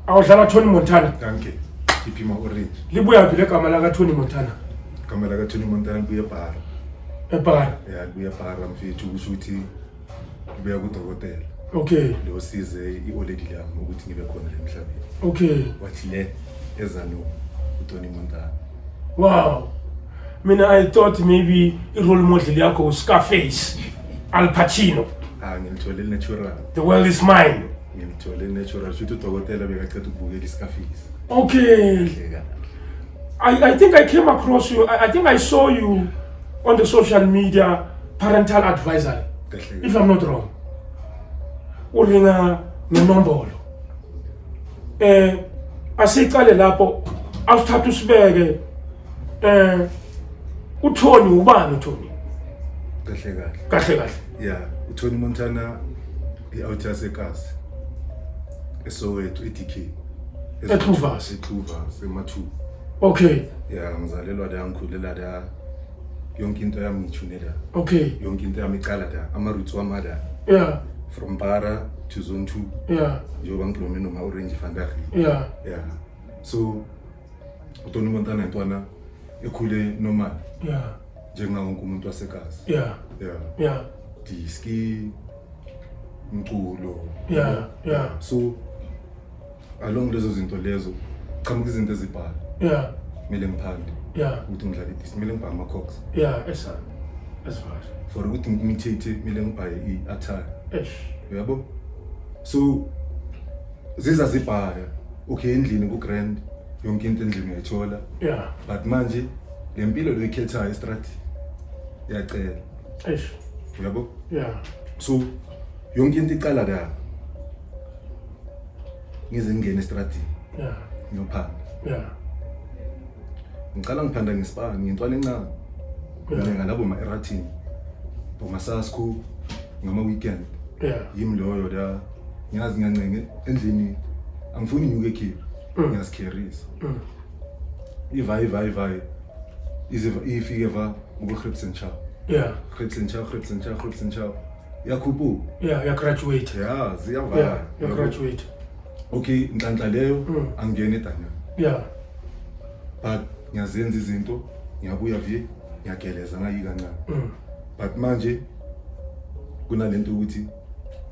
awudlala tony montana danke khiphi ma-orange libuyaphi le gama lakatony montana igama lakatony montana libuye ebhara ebhara ya libuye ebhara mfethu kusho ukuthi ngibuya kudokotela okay losize i-oledi lami ukuthi ngibe khona le mhlabeni okay wathi le eza no utoni montana wow mina i thought maybe i-role model yakho uscarface al pacino ah ngimthole natural the world is mine ngimthole natural shuthi udokotela bekaceda ukubukela iscarface okay Kahle kahle. I, I think I came across you. I, I think I saw you on the social media parental advisory. Kahle. If I'm not wrong. Uringa nenombolo. Eh asiqale lapho awuthatha usibeke eh uThoni ubani uThoni? Kahle kahle. Kahle kahle. Yeah, uThoni Montana i-out yasekasi esowethu i-dk Exuvas. exuvas emathuba okay ya ngizalelwa la ngikhulela la yonke into yami ngithune la okay yonke into yami iqala la ama-roots wami ala yeah from bara to zone two yeah njengoba ngidlome noma-orange vandaag yeah ya so utoni montana ntwana ekhule normal yeah njengawo wonke umuntu wasegazi yeah yeah yeah diski umculo yeah yeah so along lezo zinto lezo qhamuka izinto ezibhala yeah kumele ngiphande yeah ukuthi ngidlale diski kumele ngibhale ama-cox yeah esa esifari for ukuthi ngimithethe kumele ngibhale i-attire esh uyabo so ziza zibhaya okay endlini ku-grand yonke into endlini uyayithola yeah but manje le mpilo loyikhethayo estrat yacela eish uyabo yeah so yonke into iqala ka ngize ngingene estratini yeah ngiyophanda yeah ngicala ngiphanda ngesipani ngintwana encane ngilenga labo ma-eratini bomasasku ngama-weekend yeah yimi loyo la ngiyazi ngiyancenge endlini angifuni inyuke ekhipha mm. ngiyazikherisa mm. Ivayi ivayi ivayi iziva ifike va uku Grips and Chow. Yeah. Grips and Chow, Grips and Chow, Grips and Chow. Yakhuphu. Yeah, ya graduate. Yeah, ziyavala. Yeah, ya graduate. Okay, nhlanhla leyo mm. angene Daniel. Yeah. But ngiyazenza izinto, ngiyabuya vi, ngiyageleza ngayika ncane. Mm. But manje kunalento ukuthi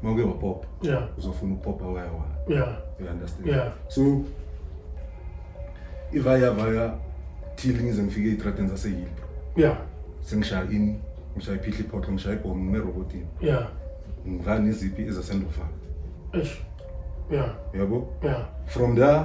uma uke wapopa yeah. uzofuna ukupopa waya waya yeah. you understand yeah. so ivaya vaya till ngize ngifike ey'tradeni zaseyilbro yeah. sengishaya ini ngishaya iphihla iphoxo ngishaya ibhomu ngimerobotini yeah. ngiva neziphi ezasendofaka yeah. yabo yeah. from there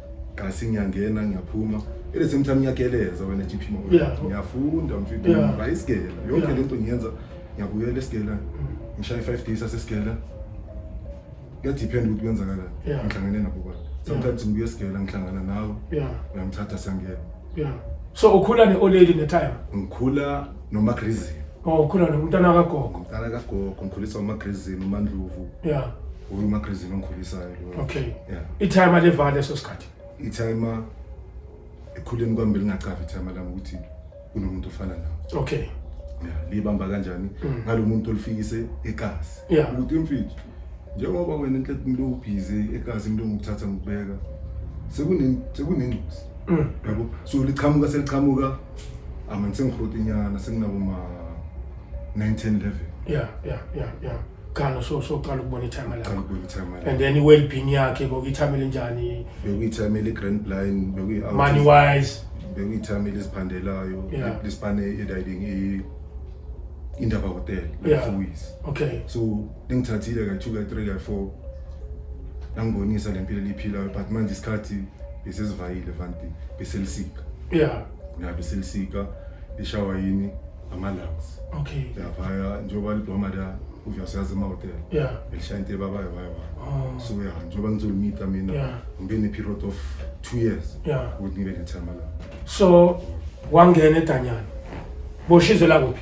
kasi ngiyangena ngiyaphuma ele same time ngiyageleza wena GP mo ngiyafunda mfethu ngiyaba isigela yonke lento ngiyenza ngiyabuyela esigela mm. ngishaya 5 days asesigela kuyadepend ukuthi kwenzakalani ngihlangene nabo bani sometimes ngibuye esigela ngihlangana nawe uyangithatha siyangena so ukhula ne-oleli netime ngikhula nomagrizini Oh, ukhula nomntana kagogo. Umntana kagogo ngikhulisa uMagrizini uMandlovu. Yeah. Uyi uMagrizini ongikhulisayo lo. Okay. Yeah. Ithayima levale leso sikhathi. Ithayima ekhuleni kwami belingacavi ithayima lami ukuthi kunomuntu ofana nawe. Okay. Yeah, libamba kanjani? Mm. Ngalomuntu olifikise egazi. Yeah. Ukuthi imfithu njengoba wena inhle umuntu ubhizi egazi umuntu ngokuthatha ngikubeka sekunengcuzi mm. yabo so liqhamuka seliqhamuka amani sengihroti inyana senginabo ma 19 11 yeah yeah yeah yeah qala so so qala ukubona ithama lakho qala ukubona ithama lakho and then i well being yakhe bokuyithamela njani bekuyithamela i grand blind bekuyi money wise bekuyithamela isiphandelayo lesipane ediding i indaba hotel like yeah. okay so lingithathile kayi-two kayi-three kayi-four langibonisa le mpilo eliyiphilayo but manje isikhathi besesivayile vanti beselisika yeah ya beselisika lishawa yini ama-lungs okay yavaya njengoba libhoma la uyasazi emahotela yeah belishaya into ebabayo vaya vaya oh. so ya njengoba ngizolumita mina Yeah. ngibe ne-period of two years yeah ukuthi ngibe nethama la so wangena edanyana boshizwe lakuphi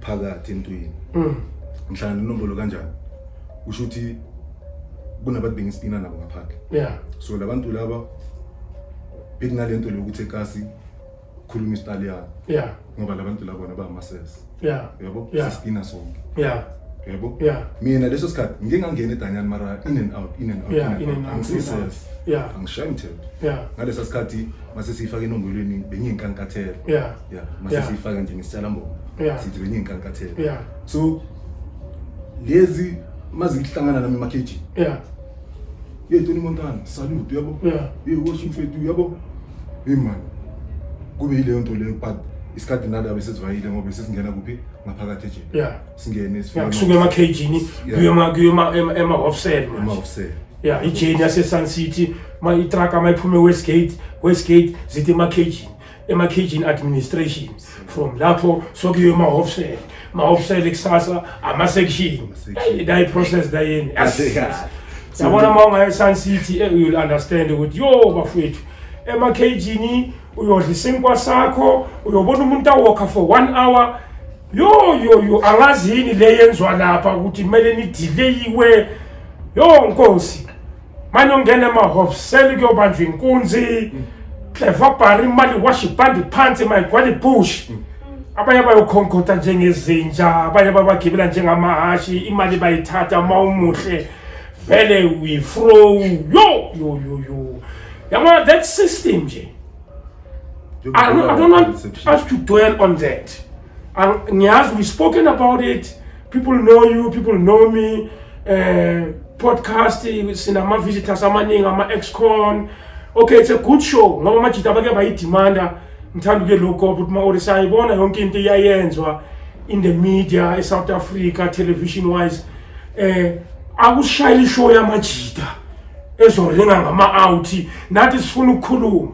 phakathi entwini Mm. ngihlala nenombolo kanjani kusho ukuthi kunabantu bengisipina nabo ngaphandle Yeah. so labantu laba bekunalento lokuthi ekasi khuluma isitaliyana Yeah. ngoba labantu laba bona bamasesi Yeah. yabo Yeah. sisipina sonke Yeah. yabo Yeah. mina leso sikhathi ngike ngangena edanyani mara in and out in and out Yeah, in and out. angisisesi Yeah. angishayi mthetho Yeah. ngalesa sikhathi mase siyifake enombolweni benginkankathela Yeah. yeah mase Yeah. siyifaka nje ngesitshala mbobo Yeah. sithi benye inkankathelo yeah so lezi mazihlangana nami emakheji yeah ye toni montana salute uyabo yeah ye washo mfethu uyabo hey man kube yileyo nto leyo but isikhathi nalo abe sesivayile ngoba sesingena kuphi ngaphakathi ejele yeah singene yeah kusuka emakhejini Yeah. kuye ema kuye ema- ema- ema offset manje emawusele yeah ijeni yasesun city ma itraka mayiphume westgate westgate zithi emakhejini ema-cagin administration from lapho sokuyiwe emahofisele mahofisele kusasa ama-section nayi-process nayeni yabona uma ungaye-sun city eh, youll understand ukuthi yo bafowethu ema-cagini uyodla isinkwa sakho uyobona umuntu awokha for one hour yo yo yo angazi yini le yenziwa lapha ukuthi kumele nidileyiwe yo nkosi manje ungena emahofiseli kuyobanjwa inkunzi cleva bhari imali washa ibhandi phansi mayigcwala ibush abanye bayokhonkotha njengezinja abanye babagibela njengamahhashi imali bayithatha uma umuhle vele uyifrow yo yo yo yo yabona that system nje I don't, I don't want us to dwell on that ngiyazi we spoken about it people know you people know me eh podcast sinama visitors amaningi ama excon okay it's a good show ngoba amajita abake bayidemanda ngithanda ke lokho ukuthi ma ori sayibona yonke into iyayenzwa in the media e South Africa television wise eh akushayile show yamajita ezolinga ngama out nathi sifuna ukukhuluma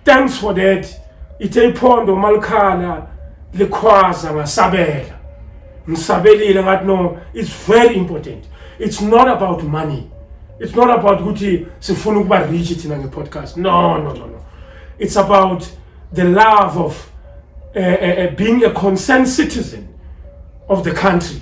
thanks for that ithe iphondo malikhala likhwaza ngasabela ngisabelile ngathi no it's very important it's not about money it's not about ukuthi sifuna ukuba rich thina ngepodcast no no no no it's about the love of uh, uh, being a concerned citizen of the country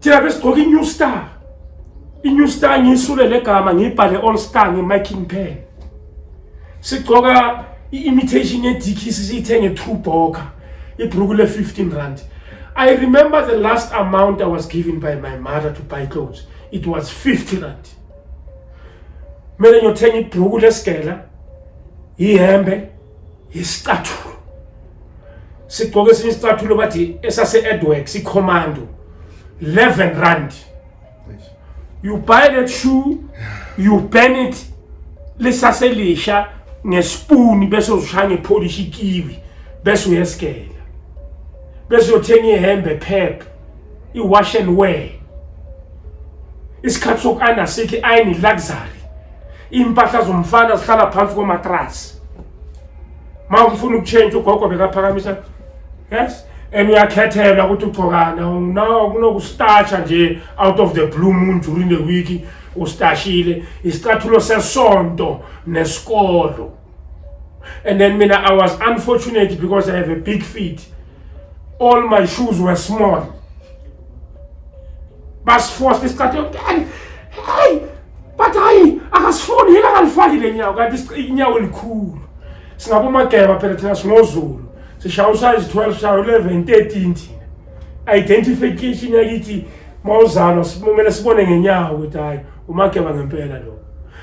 thina besigqoka i-new star i-new star ngiyisule le gama ngiyibhale all star nge-miking pen sigqoka i-imitation yedikisi siyithenge two boka ibruku le-15 rand i remember the last amount i was given by my mother to buy clothes it was 50 rand kumele ngiyothenga ibruku lesigela yihembe isicathulo sigqoke esinye isicathulo bathi esase-edwork sicommando 11 rand you buy that shoe you burn it lisaselisha ngesipuni bese uzishaya ngepolish ikiwi bese uyesigela bese uyothenga ihembe phepha i-wash and wear isikhathi soku-ayina sikho i-ayini i-luxury iy'mpahla zomfana zihlala phansi komatrasi ma ufuna ukutshentsha ugogo bekaphakamisa yes and uyakhethelwa ukuthi ugcokana no kunokustatsha nje out of the blue moon during the week ustashile isicathulo sesonto nesikolo and then mina i was unfortunate because i have a big feet all my shoes were small basifosta isikhathi yonke hey but hayi akasifuni yena akalifaki le nyawo kanti inyawo elikhulu singabomageba phela thina sinozulu sishaya usayizi 12 shaya 11 13 thina identification yakithi uma uzalwa kumele sibone ngenyawo ukuthi hayi umageba ngempela lo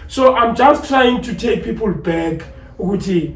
so i'm just trying to take people back ukuthi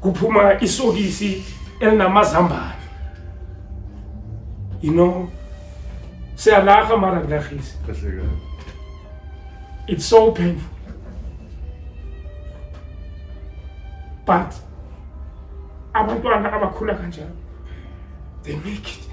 kuphuma isokisi elinamazambane you know siyalaha mara kulahisi it's so painful but abantwana abakhula kanjalo they make it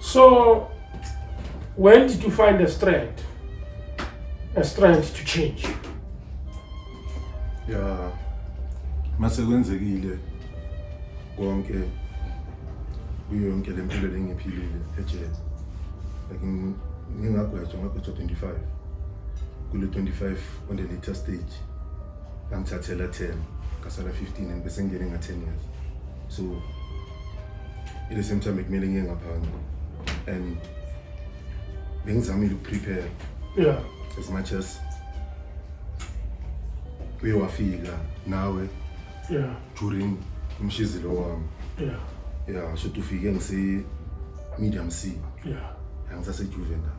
So, when did you find a strength? A strength to change? Yeah. Mase kwenzekile konke kuyo yonke le mpilo lengiphilile ejele. Like ngingagwetshwa ngagwetshwa 25 kule 25 on the later stage ngithathela 10 ngasala 15 and bese ngingene nga 10 years so at the same time bekumele ngiye ngaphandle and bengizamile ukuprepare yeah as much as uye wafika nawe yeah during umshizilo wami yeah yeah so tufike ngise medium c yeah angisasejuvenile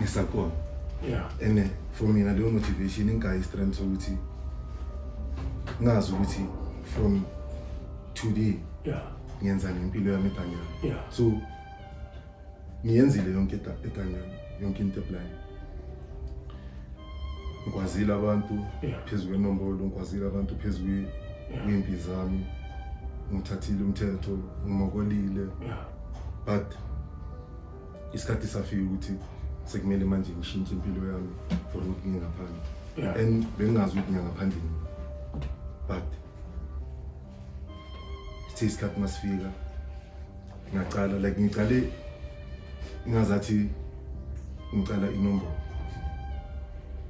ngisakona yeah and eh, for mina leyo motivation ingayi strength sokuthi ngazi ukuthi from today yeah ngiyenza ngempilo yami etanyana yeah so ngiyenzile yonke etanyana yonke into eplan ngikwazile abantu phezu kwenombolo ngikwazile abantu phezu kwempi zami ngithathile umthetho ngimokolile but isikhathi safika ukuthi sekumele manje ngishintshe impilo yami for ukuthi ngiye ngaphandle Yeah. and bengingazi ukuthi ngiya ngaphandle nini but sithe isikhathi masifika ngaqala like ngiqale ingazathi ngicala inombolo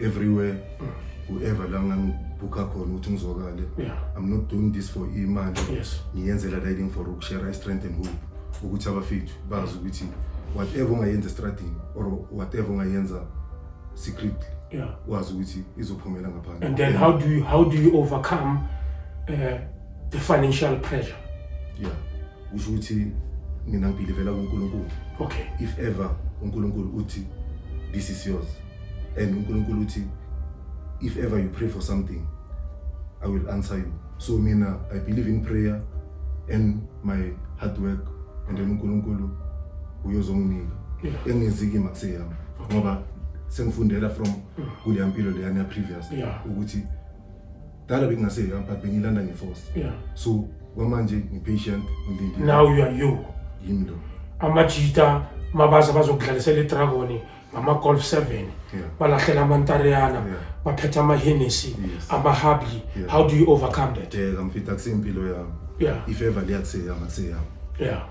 everywhere whoever la ngangibhukha khona ukuthi ngizwakale yeah. i'm not doing this for imali yes. ngiyenzela riding for ukushare i-strength and hope ukuthi abafethu bazi ukuthi whatever ungayenza estradini or whatever ungayenza secretly yeah. wazi ukuthi izophumela ngaphandle and then how do you, how do you overcome uh, the financial pressure yeah kusho ukuthi mina ngibhilivela kuNkulunkulu okay if ever uNkulunkulu uthi this is yours and uNkulunkulu uthi if ever you pray for something i will answer you so mina i believe in prayer and my hard work and then uNkulunkulu uyozonginika engiziki makuseyami ngoba sengifundela from kuleya mpilo leyana previous ukuthi Dala bekungase yeah, but bengilanda ngeforce. Yeah. So kwamanje ngipatient ngilindile. Now you are you. Yimi lo. Amajita mabaza bazokudlalisela idragon ngama-golf seven yeah. balahlela amantareyana yeah. baphetha amahenesi yes. amahabli yeah. how do you overcome that deka mfita kusempilo yami yeah. ifeva liyakuseyama kuseyama yeah.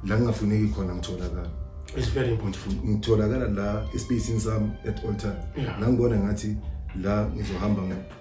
la ngingafuneki khona ngitholakala It's very important. Ngitholakala la espacing sami at all time. Yeah. Nangibona ngathi la ngizohamba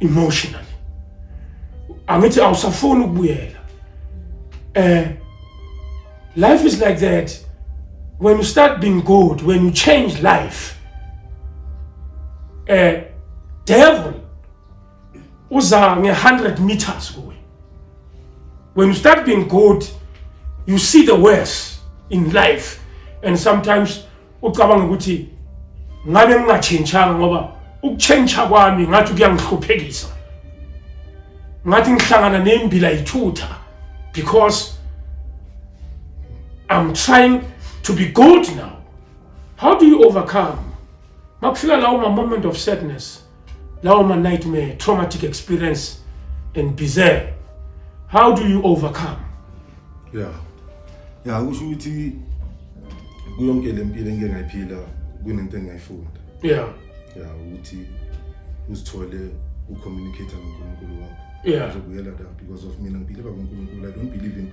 emotionally angithi awusafuni ukubuyela eh life is like that when you start being good when you change life eh devil uza nge 100 meters kuwe when you start being good you see the worst in life and sometimes ucabanga ukuthi ngabe ngingatshintshanga ngoba ukutshentsha kwami ngathi kuyangihluphekisa ngathi ngihlangana nembila yithutha because i'm trying to be good now how do you overcome makufika lawo ma-moment of sadness Lawo ma nightmare, traumatic experience and bizarre. How do you overcome? Yeah. Yeah, kusho ukuthi kuyonke le mpilo engike ngayiphila kunento engingayifunda. Yeah. Yeah, ukuthi uzithole ucommunicate noNkulunkulu wakho. Yeah. Uzobuyela la because of mina ngiphile bakuNkulunkulu. I don't believe in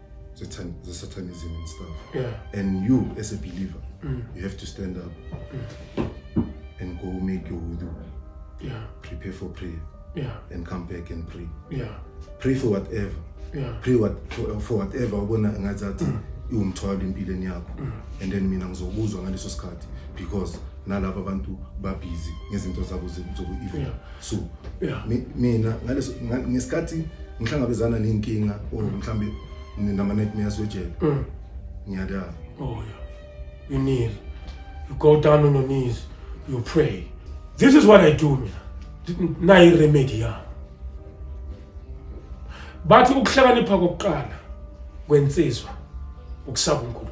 Satan, the satanism and stuff. Yeah. And you, as a believer, mm. you have to stand up mm. and go make your wudu. Yeah. Prepare for prayer. Yeah. And come back and pray. Yeah. Pray for whatever. Yeah. Pray what, for, for whatever ubona ngathi athi mm. iwumthwalo empilweni yakho. Mm. And then mina ngizokuzwa ngaleso sikhathi because nalabo abantu babhizi ngezinto zabo zobu-evil. Yeah. so yeah. mina ngaleso ngesikhathi ngihlangabezana nenkinga or mhlambe nama nightmares wejele mm. ngiyadala oh yeah you kneel you go down on your knees you pray this is what i do mina nayi remedy yami bathi ukuhlakanipha kokuqala kwensizwa ukusaba uNkulunkulu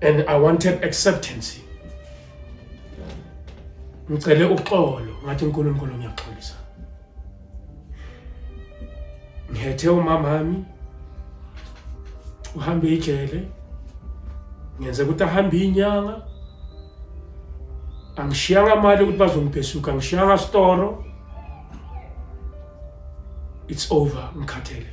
and i wanted acceptance ngicele uxolo ngathi uNkulunkulu ngiyaxolisa ngihethe umama wami uhambe ijele ngenze ukuthi ahambe inyanga angishiyanga mali ukuthi bazongibhesuka angishiyanga storo it's over ngikhathele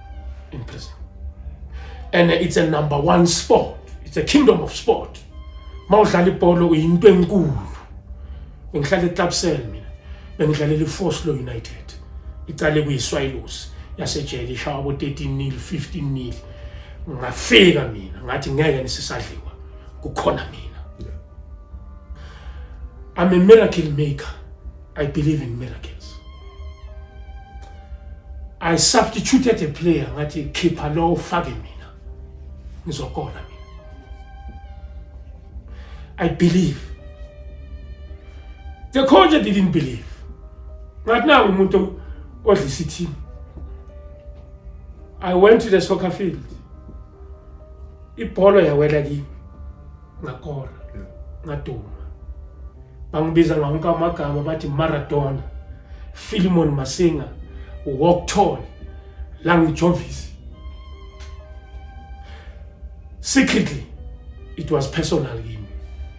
in prison. And it's a number one sport. It's a kingdom of sport. Mawudlala ibhola uyinto enkulu. Bengihlala eClubcell mina. Bengidlalela iFoslo United. Icale kuyiSwallows yasejele ishawa abo 13 nil 15 nil. Ngafika mina ngathi ngeke nisisadliwa. Kukhona mina. I'm a miracle maker. I believe in miracles. I substituted a player ngathi khipha lo ufake mina ngizokona mina. I believe. The coach didn't believe. Ngathi nangu umuntu odlisa i-team. I went to the soccer field. Ibhola yawela kimi. ngakora ngaduma bangibiza ngawonke amagama bathi maradona filimon masinga wokthol langijovisi secretly it was personal kimi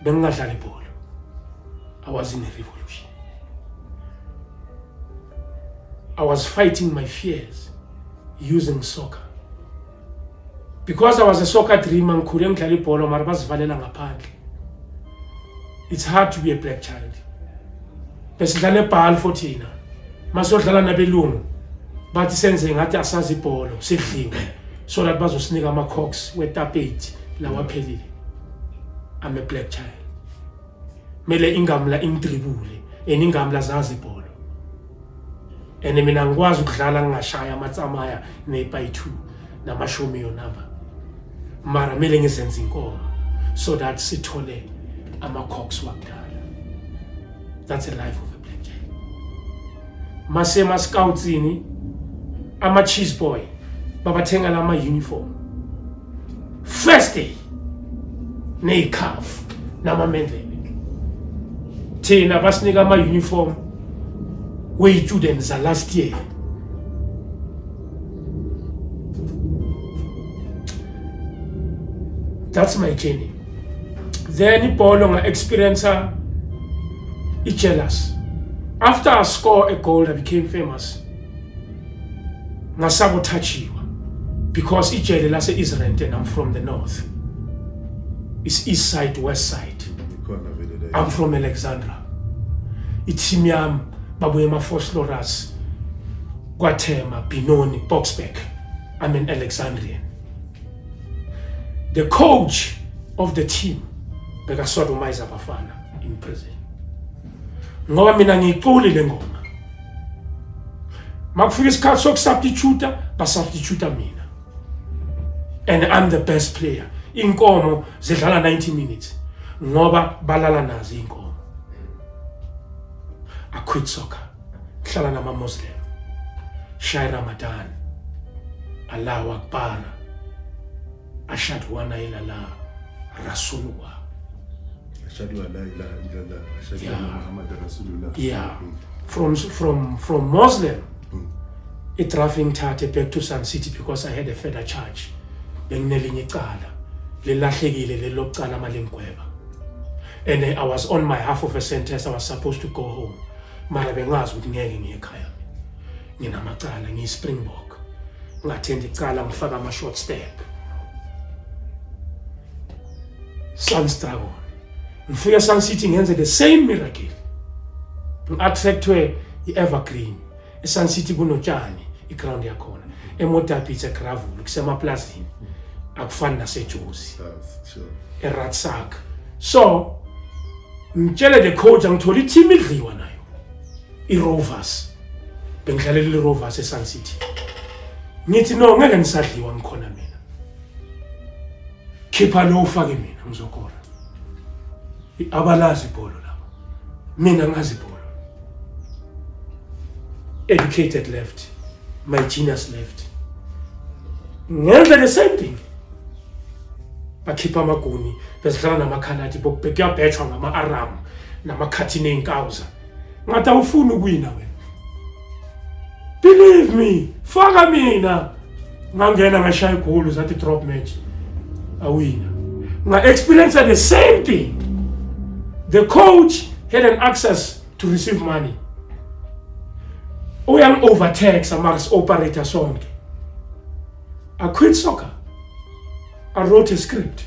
bengingadlali ibhola i was in a revolution i was fighting my fears using soccer because i was a soccer dreamer ngikhule ngidlala ibhola mara bazivalela ngaphandle it's hard to be a black child besidlala ebhali for thina masodlala nabelungu bathi senze ngathi asazi ibholo sidlinga so that bazosinika ama-cox wetapeti lawaphelile i'm a black child kumele ingamla imdribule and ingamla zazi ibholo and mina ngikwazi ukudlala ngingashaya amatsamaya nepayi two namashumi yonaba mara kumele ngizenze inkomo so that sithole ama-cox wakudala that's a life of a black jack masema-scoutsini ama-cheese boy babathengela ama-uniform first day neyikhafu namamendlebe thina basinika ama-uniform weyi-student za-last year that's my journey then ibholo nga-experiencer i-jealous after i score a gold i became famous ngasabothajiwa because ijele lase-israel and i'm from the north is east side west side i'm from alexandra ithimu yami babuye emafoslorus kwathema binoni boxback i'm an alexandrian the coach of the team bekasodomize abafana in prison ngoba mina ngiyiculi le ngoma makufika isikhathi sokusubstitute basubstitute mina and i'm the best player inkomo zidlala 90 minutes ngoba balala nazo inkomo i quit soccer ngihlala nama muslim shaya ramadan allahu akbar ashhadu la ilaha illallah rasulullah ashhadu la ilaha illallah ashhadu anna muhammadan rasulullah yeah from from from muslim hmm. idraft ngithathe back to sun city because i had a further charge benginelinye icala lelahlekile lelocala malingigweba and i was on my half of a sentence i was supposed to go home mara bengazi ukuthi ngeke ngiye ekhaya nginamacala ngiyispringbok ngathendi icala ngifaka ama-short step sons dragon ngifike esun city ngenze the same miracle ngi-attractwe i-evergreen esun city kunotshani iground yakhona emodabits egravulu kusemaplazini akufani nasejozi eratsak so ngitshele the coach angithole i-team idliwa nayo iRovers bengidlalela iRovers eSun City ngithi no ngeke ngisadliwa ngikhona mina khipha lo ufake mina ngizokora abalazi ibhola mina ngazi bolo educated left my genius left ngenza the same thing bakhipha amaguni bezidlala namakhanati bokubhekuyabhethwa ngama-aramu namakhathini ey'nkawuza ngathi awufuni ukuwina wena believe me faka mina ngangena ngashaya igoli zathi drop match awina nga experience the same thing the coach had an access to receive money uyan overtax amars operator sonke i quit soccer i wrote a script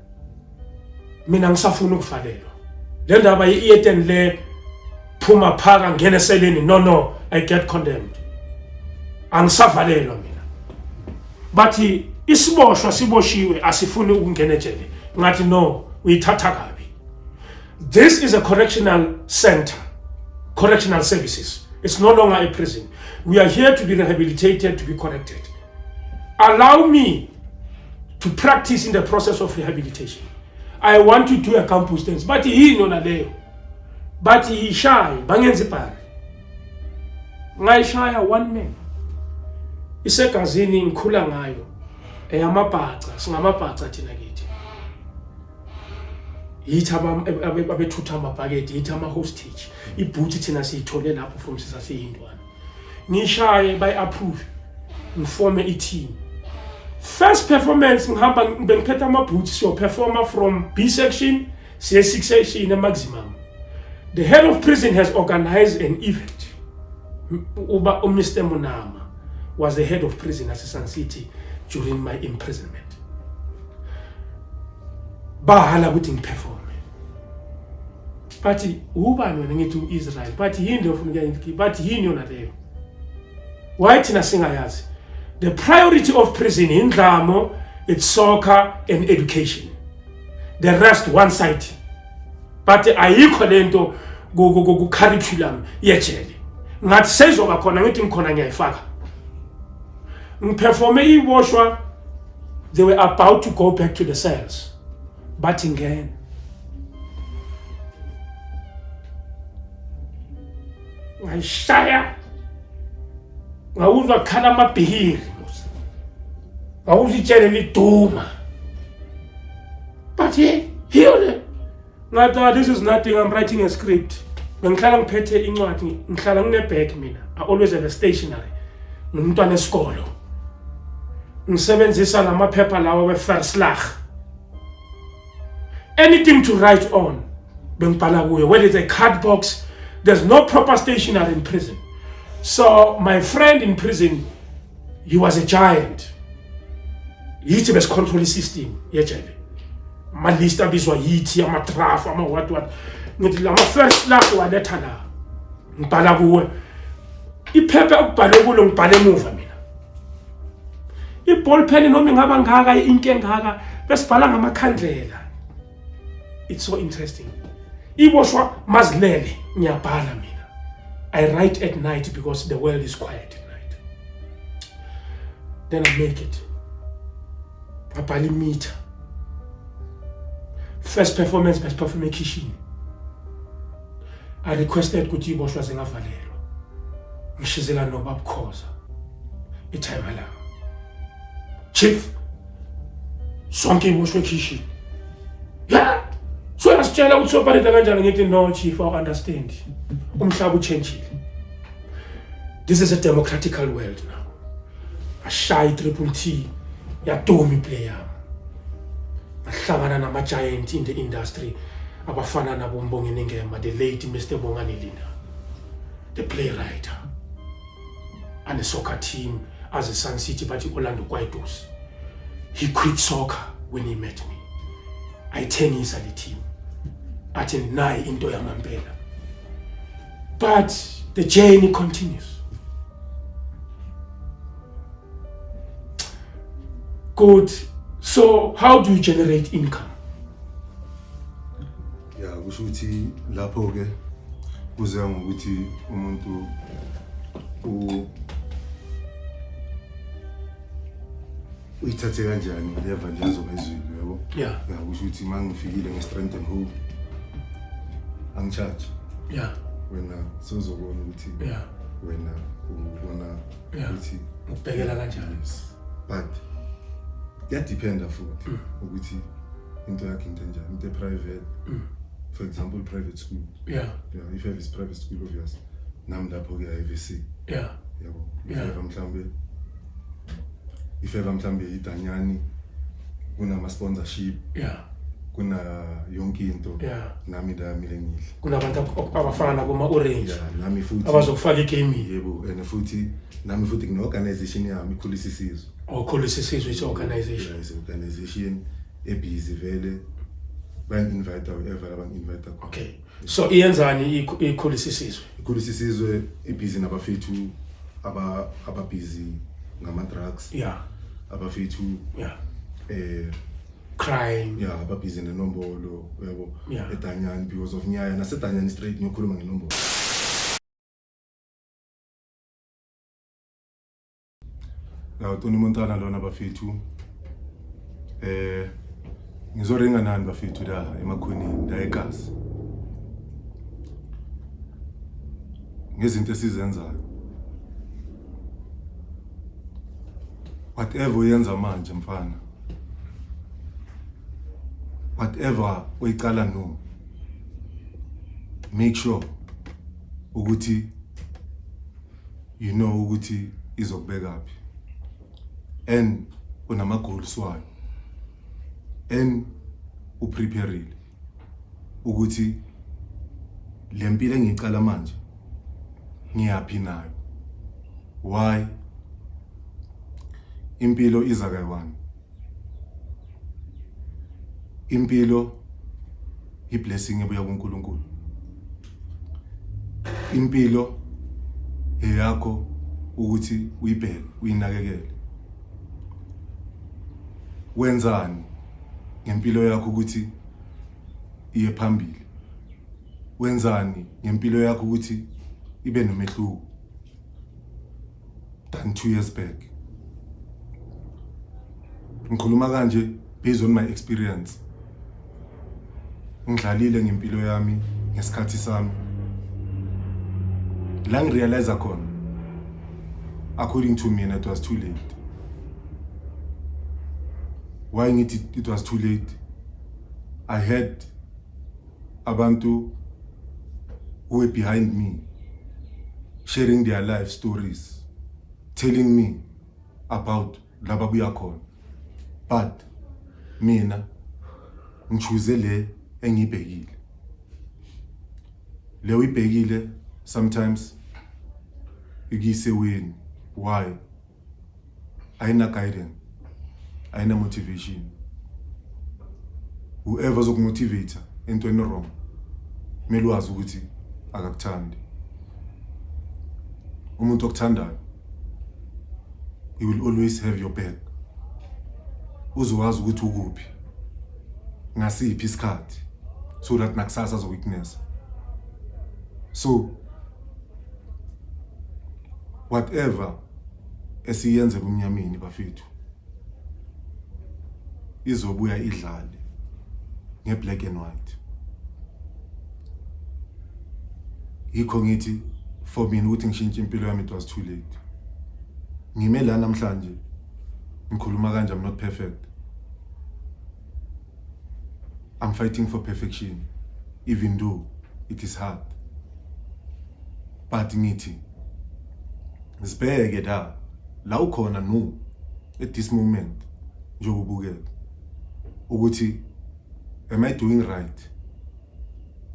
mina ngisafuna ukuvalelwa le ndaba yi-eten le phuma phaka ngene seleni no no i get condemned angisavalelwa mina bathi isiboshwa siboshiwe asifuni ukungena ejele ngathi no uyithatha kabi this is a correctional center correctional services it's no longer a prison we are here to be rehabilitated to be corrected allow me to practice in the process of rehabilitation i want to do a campus dance bathi yini yona leyo bathi yishaye bangenza ibhari ngayishaya one man isegazini ngikhula ngayo eyamabhaca singamabhaca thina kithi yithi abethutha amabhakede yithi ama-hostage ibhuthi thina siyithole lapho from sisaseyindwana ngishaye bayi approve ngifome i team first performance ngihamba bengiphetha ama boots so performer from B section siye 6 section e maximum the head of prison has organized an event uba u Mr Munama was the head of prison at Sun City during my imprisonment bahala ukuthi ngiperform but ubani wena ngithi u-israyeli but yini leyo funa ukuyangithi but yini yona leyo why thina singayazi the priority of prison yindlamo it's soccer and education the rest one side but ayikho le nto kucurriculum yejele ngathi seyizoba khona ngithi ngikhona ngiyayifaka ngiperforme iboshwa they were about to go back to the cells bathi ngena ngayishaya ngawuzwa kukhala amabhihiri ngawuzwa itshele liduma but ye hiyo le ngathi ah, this is nothing i'm writing a script bengihlala ngiphethe incwadi ngihlala nginebag mina i always have a stationary ngumntwana esikolo ngisebenzisa lamaphepha lawa weferslag anything to write on bengibhala kuyo whether it's a card box there's no proper stationery in prison so my friend in prison he was a giant yithi besicontrol isystem yejele amalist abizwa yithi amatraf ama-what what ngithi lama first lap waletha la ngibhala kuwe iphepha okubhalwe kulo ngibhale emuva mina iball pen noma ingaba ngaka into engaka besibhala ngamakhandlela it's so interesting iboshwa mazilele ngiyabhala mina i write at night because the world is quiet at night then i make it ngabhala imitha first performance best perform ekhishini I requested ukuthi iboshwa zingavalelwa. Ngishizela nobaba Khoza. Ithayima la. Chief sonke iboshwe ekhishini. Yeah. So yasitshela ukuthi soparida kanjani ngithi no chief I understand. Umhlaba uchangile. This is a democratical world now. ashaye i-triple t yaduma iplay yami ngahlangana nama-giant in the industry abafana nabo Mbongeni Ngema the late Mr Bongani Linda the playwright and the soccer team as a Sun City but Orlando Kwaitos he quit soccer when he met me ayithengisa le team athi nayi into yamampela but the journey continues Good. So how do you generate income? Ya kusho ukuthi lapho ke kuze ngokuthi umuntu u uyithathe kanjani ngiyeva nje azoba ezwile yabo. Yeah. Ya kusho ukuthi mangifikile nge strength and hope angicharge Yeah. wena sozobona ukuthi Yeah. wena ubona ukuthi ukubhekela kanjani but kuyadiphenda futhi mm. ukuthi into yakhe into enjani into eprivate mm. for example private school yeah yeah if have is private school obvious nami lapho ke IVC yeah yabo if have mhlambe if have mhlambe idanyani kunama sponsorship yeah kuna yonke into yeah. nami ndamile ngidla kunabantu abafana nakuma orange yeah, nami futhi abazokufaka igaming yebo and futhi nami futhi ngine organization yami ikhulisa isizwe okhulisa oh, isizwe is organization yeah, is organization ebhizi vele bangi-invite whoever abangi-invite khona okay so iyenzani ikhulisa isizwe ikhulisa isizwe ibhizi nabafethu aba ababhizi ngama-drugs yeah abafethu yeah eh crime ya babhizi nenombolo uyabo Yeah. edanyani because of nyaya nasedanyani straight ngiyokhuluma ngenombolo ya utoni montana lona bafethu eh ngizoringa nani bafethu la emakhoneni la egazi ngezinto esizenzayo whatever uyenza manje mfana whatever oyicala no make sure ukuthi you know ukuthi izokubeka phi and unama goals wayo and uprepareile ukuthi le mpilo engiyicala manje ngiyaphi nayo why impilo iza kayiwani impilo iblessing ebuya kuNkulunkulu impilo eyakho ukuthi uyibheke uyinakekele wenzani ngempilo yakho ukuthi iye phambili wenzani ngempilo yakho ukuthi ibe nomehluko than 2 years back ngikhuluma kanje based on my experience ngidlalile ngempilo yami ngesikhathi sami la ngirealize khona according to me it was too late why ngithi it was too late i had abantu who were behind me sharing their life stories telling me about laba buya khona but mina ngichuze le engibhekile le uyibhekile sometimes ikise wini why ayina guidance ayina motivation whoever zokumotivate into eni wrong kumele wazi ukuthi akakuthandi umuntu okuthandayo he will always have your back uzowazi ukuthi ukuphi ngasiphi isikhathi so that nakusasa azoweakness so whatever esiyenze kumnyameni bafethu izobuya idlale ngeblack and white yikho ngithi for mina ukuthi ngishintshe impilo yami it was too late ngime la namhlanje ngikhuluma kanje i'm not perfect i'm fighting for perfection even though it is hard but ngithi sibheke da la ukhona no at this moment njengoba ubukela ukuthi am i doing right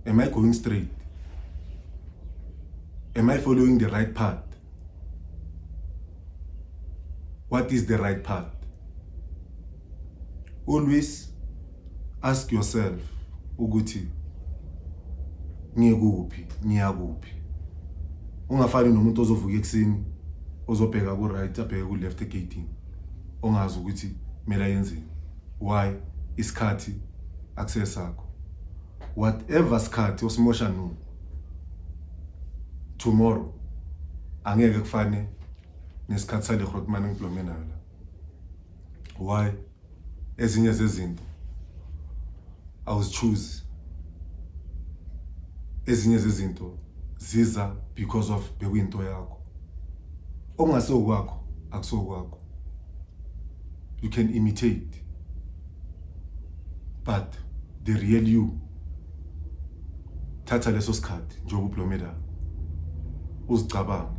am i going straight am i following the right path what is the right path always ask yourself ukuthi ngikuphi ngiyakuphi ungafani nomuntu ozovuka ekuseni ozobheka ku right abheke ku left egating ongazi ukuthi mela yenzeni why isikhathi akusesakho whatever sikhathi osimosha no tomorrow angeke kufane nesikhathi sale Grootman engiblome nayo la why ezinye zezinto awuzichoose ezinye zezinto ziza because of bekuyinto yakho okungase okwakho akusokwakho you can imitate but the real you thatha leso sikhathi njengoba ublomela uzicabange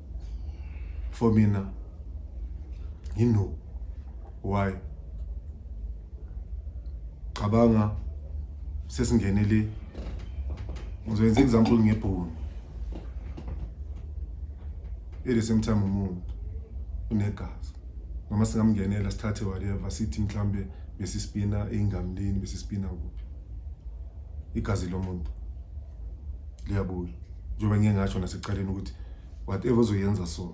for mina you know why cabanga sesingene le ngizokwenza example ngebhunu at the same time umuntu unegazi noma singamngenela sithathe whatever sithi mhlambe besispina eingamlini besispina kuphi igazi lomuntu liyabuya njengoba ngike ngasho nasekuqaleni ukuthi whatever ozoyenza so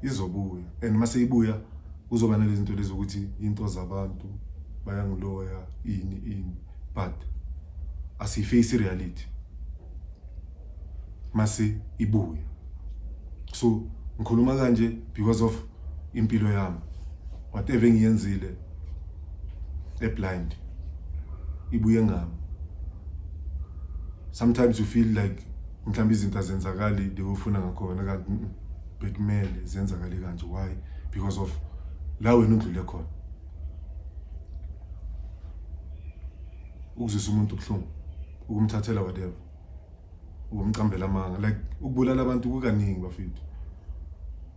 izobuya and uma seyibuya kuzoba nalezi zinto lezi ukuthi into zabantu bayangiloya ini ini but asiyifeyisi reality mase ibuya so ngikhuluma kanje because of impilo yami whatever engiyenzile eblind ibuye ngami sometimes you feel like mhlawumbe izinto azenzakali the ufuna ngakhona kanti bekumele zenzakale kanje why because of la wena undlule khona ukuzisa umuntu ubuhlungu ukumthathela whatever ubumqambela amanga like ukubulala abantu kukaningi bafethu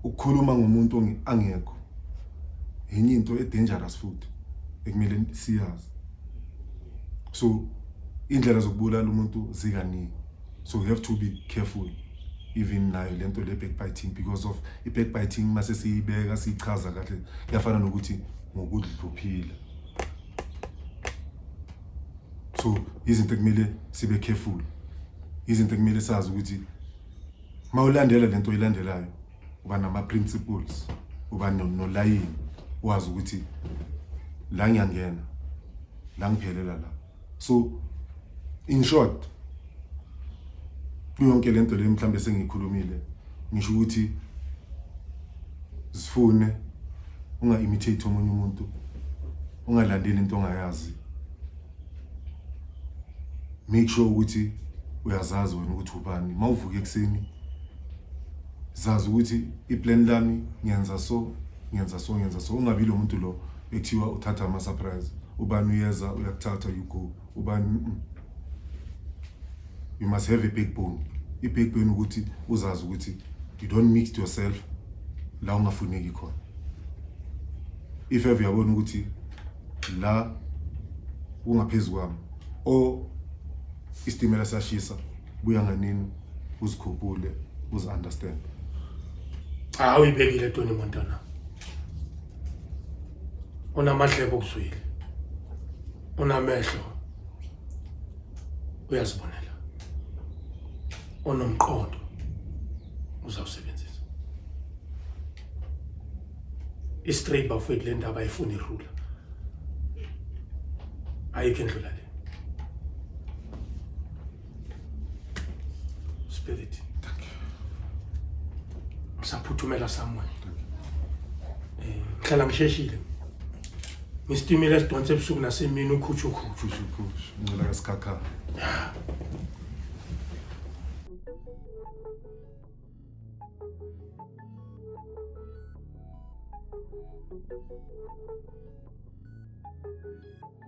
ukukhuluma ngomuntu angekho yenye into edangerous futhi ekumele siyazi so indlela zokubulala umuntu zikaningi so you have to be careful even nayo lento le backbiting because of i backbiting mase siyibeka sichaza kahle yafana nokuthi ngokudluphila so izinto ekumele sibe careful izinto ekumele sazi ukuthi uma ulandela le nto oyilandelayo uba nama-principles uba nolayini wazi ukuthi la ngiyangena la ngiphelela la so in short kuyonke le nto le mhlawumbe sengiyikhulumile ngisho ukuthi zifune unga-imitate omunye umuntu ungalandeli into ongayazi make sure ukuthi uyazazi wena ukuthi ubani uma uvuka ekuseni zazi ukuthi iplan lami ngenza so ngenza so ngenza so ungabi lo muntu lo ekuthiwa uthatha ama-surprise ubani uyeza uyakuthatha you go ubani you must have a big bone i-big bone ukuthi uzazi ukuthi you don't mix yourself la ungafuneki khona if ever uyabona ukuthi la ungaphezulu kwami o isitimela sashisa buya nganini uzikhuphule uzi understand hawu ibekile toni montana unamadlebe okuzwile unamehlo uyazibonela onomqondo uzawusebenzisa istraight bafowethu le ndaba ayifuni irula ayikho endlula le Spirit. Thank you. Saphuthumela somewhere. Thank you. Eh, ngihlala ngisheshile. Ngistimile sidonse ebusuku nasemini ukhutshu ukhutshu. Kusho kusho. Ngicela kasikhakhana.